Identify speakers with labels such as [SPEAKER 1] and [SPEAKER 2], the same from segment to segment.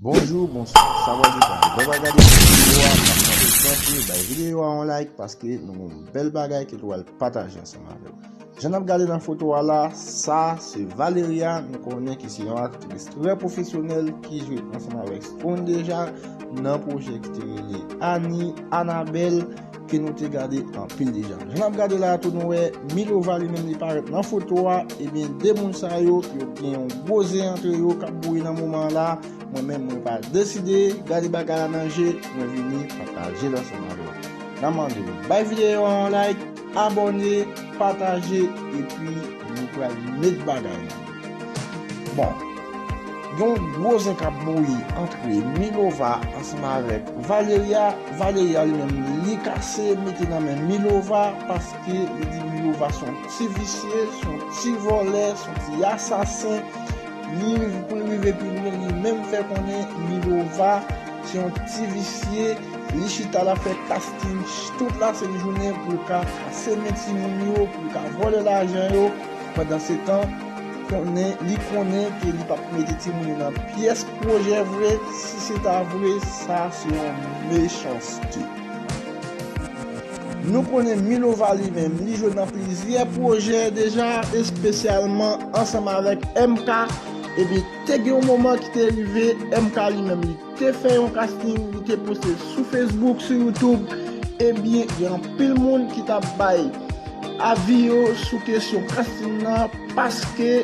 [SPEAKER 1] Bonjou, bonswa, sa va di tan? Lè wap gade videyo a, map mande tanpri bay videyo a yon like paske nou gen yon bèl bagay ke nou pral pataje ansanm avèw. Jan nap gade nan foto a la, sa se Valeria, nou konnen ki se yon aktris trè pwofesyonèl ki jwe ansanm avèk Skony deja nan pwojè ki te rele Annie, Anabelle. ke nou te gade anpil deja. Jan nap gade la a tou nou wè Milova li menm li parèt nan foto a, ebyen 2 moun sa yo, yo gen yon gwo zen antre yo kap bouyi nan moman an la, mwen menm mwen pa deside gade bagay la nan je, mwen vini patajel ansanm avèw. Nan mande w bay videyo an yon like, abòne, pataje, epi nou pral met bagay la. Bon, gen yon gwo zen k ap bouyi antre Milova ansanm avèk Valeria. Valeria li menm li kase mete nan men Milova paske li di Milova se yon ti visye, se yon ti vòlè, se yon ti asasen. Li, pou l rive pi lwen, li menm fè konnen Milova se yon ti visye, li chita l ap fè kasting tout lasent jounen pou l ka kase men timoun yo, pou l ka vòlè lajan yo. Pandansetan, konnen li konnen ke li pap mete timoun yo nan pyès pwojè vre, si se ta vre, sa se yon mechanste. Nou konnen Milova li menm, li jwe nan plizyè pwojè deja, espesyalman ansanm avèk MK, ebyen te gen yon moman ki te rive MK li menm li. te fè yon casting li te poste l sou Facebook sou YouTube ebyen gen anpil moun ki tap bay avi yo sou kesyon casting nan paske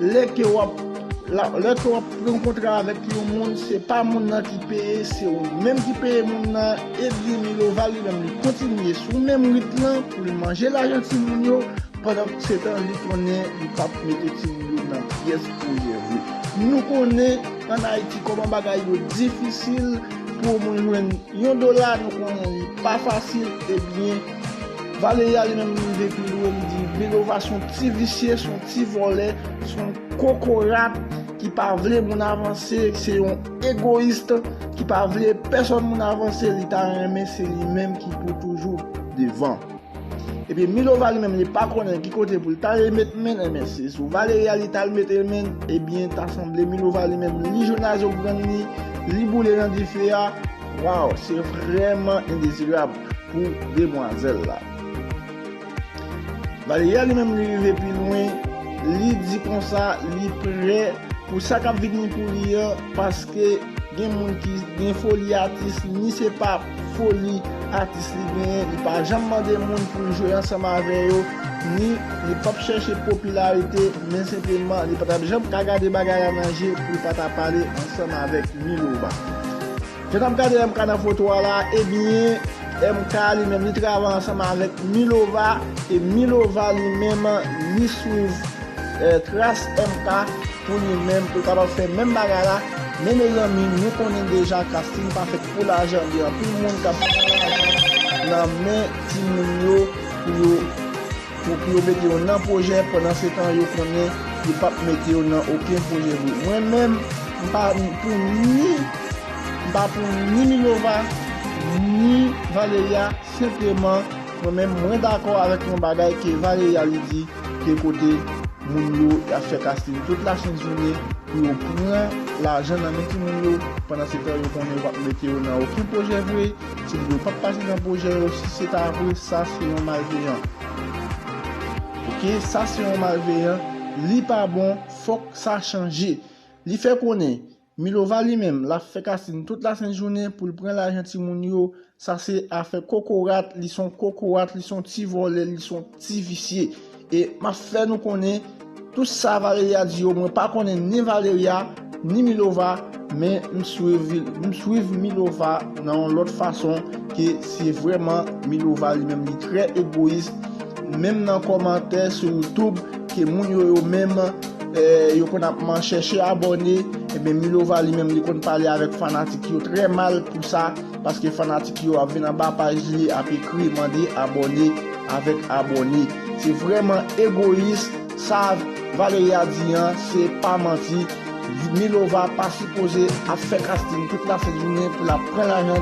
[SPEAKER 1] lè ke wap lè ke wap pran kontra avèk yon moun se pa moun nan ki peye se ou menm ki peye moun nan ebyen Milova li menm li kontinye sou menm rit lan pou l manje lajan timoun yo pandan se tan li konnen li pap mete timoun yo nan pyès pou l jere nou konnen. An Ayiti kòman bagay yo difisil pou ou moun jwenn yon dola nou konnen li pa fasil ebyen Valeria li menm li rive pi lwen li di Belova son ti visye son ti vòlè son kokorat ki pa vle moun avanse se yon egoyist ki pa vle pèsòn moun avanse li ta renmen se li menm ki pou toujou devan. Epi Milova li menm li pa konnen ki kote pou l ta ale met men l enben se sou Valeria li t al mete men l ebyen ta sanble Milova li menm li jwenn a zobrann li li boule nan dife a waw se vrèman endezirab pou demwazèl la. Valeria li menm li rive pi lwen li di konsa li prè pou sa k ap vini pou li an paske gen moun ki gen foli atis ni se pa foli atis li genyen, li pa janm mande moun pou l jwe ansanm avè yo, ni li pap chèche popilarite, men senpleman li pa tap janm ka gade bagay la nan je pou l pa ta pale ansanm avèk Milova. Jan nap gade MK nan foto a la, ebyen MK li menm li travay ansanm avèk Milova, e Milova li menm li swiv tras MK. Pou nou menm, ou kapab fè menm bagay la, men mezanmi nou konnen deja casting pa fèt pou lajan, gen anpil moun kap pran lajan nan men timoun yo pou yo pou yo mete yo nan pwojè pandan se tan yo konnen yo pap mete yo nan oken pwojè vre. Mwen menm m pa pou ni m pa pou ni Milova ni Valeria senpleman mwen menm mwen dakò avèk yon bagay ke Valeria li di ke kote moun yo ap fè casting tout la sent jounen pou yo pran lajan nan men timoun yo pandan se tan yo konnen yo pap mete yo nan oken pwojè vre timoun yo pap pase nan pwojè yo si se ta vre sa se yon malveyan ok sa se yon malveyan li pa bon fòk sa chanje li fè konnen Milova li menm lap fè kasinn tout la sent jounen poul pran lajan ti moun yo sa se afè kokorat li son kokorat li son ti vòlè li son ti visye e map fè nou konnen tout sa valeria di yo mwen pa konnen ni valeria ni milova men m swiv m swiv milova nan yon lòt fason ke se vrèman milova li menm li trè egoyis menm nan kòmantè sou youtube Ke moun yo yo menm yo konn ap man chèche abòne Ebyen Milova li menm li konn pale avèk fanatik yo trè mal pou sa Paske fanatik yo ap vin anba paj li ap ekri mande abòne avèk abòne Se vrèman egoyis Sa Valeria di an se pa manti Milova pa sipoze ap fè kasting tout la sent jounen pou l ap pran lajan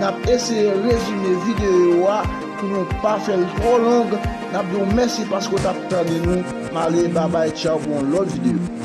[SPEAKER 1] Nap eseye rezime videyo a pou nou pa fèl twò long, nap diw mèsi paske ou tap tande nou, m ale babay tchaw pou yon lòt videyo.